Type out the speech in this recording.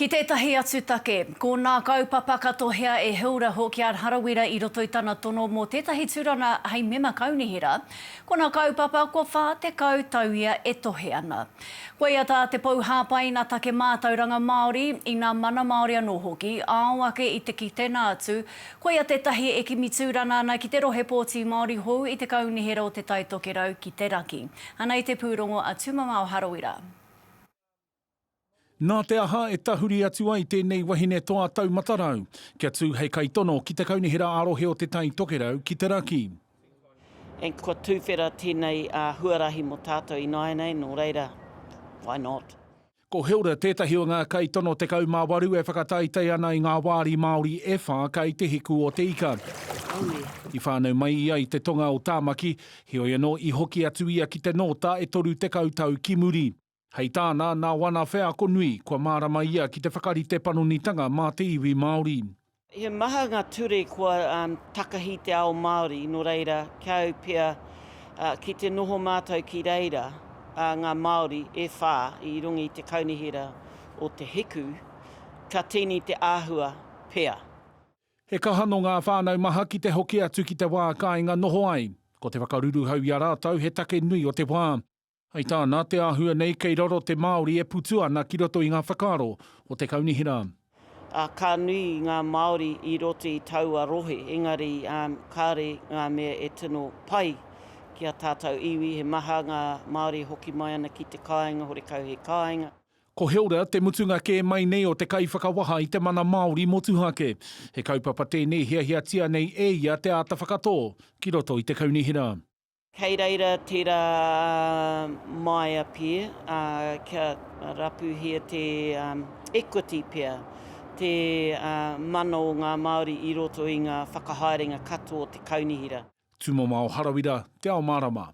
Ki tētahi atu take, ko nā kaupapa ka tohea e Hilda Hawkyard Harawira i roto i tana tono mō tētahi tūranga hei mema kaunihera, ko nā kaupapa kua 40 tau ia e tohe ana. Koia tā te pou hāpaina take mātauranga Māori, inā mana Māori anō hoki, ao ake i te ki tēnā atu, koia tētahi e kimi tūranga ana ki te rohe pōti Māori hou i te kaunihera o Te Taitokerau ki te Raki. Anei te pūrongo a Tūmamao Harawira. Nā te aha e tahuri atu ai tēnei wahine toa tau matarau kia tū hei kaitono ki te Kaunihera ā-Rohe o Te Tai Tokerau ki te Raki? And kua tuwhera tēnei huarahi mō tātou ināianei, nō reira, why not? Ko Hilda tētahi o ngā kaitono 18 e whakataetae ana i ngā wāri Māori e whā kai te hiku o te ika. I whānau mai ia i te tonga o Tāmaki, heoi anō i hoki atu ia ki te Nōta e 30 tau ki muri. Hei tāna, nā wana wheako nui, kua mārama ia ki te whakarite panonitanga mā te iwi Māori. He maha ngā ture kua takahi te ao Māori, nō reira, kia au pea, ki te noho mātou ki reira, ngā Māori e whā i runga i te kaunihera o Te Hiku, ka tīni te āhua pea. He kaha nō ngā whānau maha ki te hoki atu ki te wā kāinga noho ai. Ko te whakaruruhau i a rātou he take nui o te wā. Hei tā, nā te āhua nei kei raro te Māori e putu ana ki roto i ngā whakaaro o te kaunihera. Ā, ka nui ngā Māori i roto i taua rohe, engari kāore ngā mea e tino pai ki ā tātou iwi, he maha ngā Māori e hoki mai ana ki te kāinga, horekau he kāinga. Ko Hilda te mutunga kē mai nei o te kaiwhakawaha i te mana Māori motuhake. He kaupapa tēnei hiahiatia nei e ia te āta whakatō ki roto i te kaunihera. Kei reira tera Maya pea, kia rapuhia te equity pea, te mana o nga Maori i roto i nga whakahaerenga katoa o te kaunihera. Tumamao Harawira, Te Ao Marama.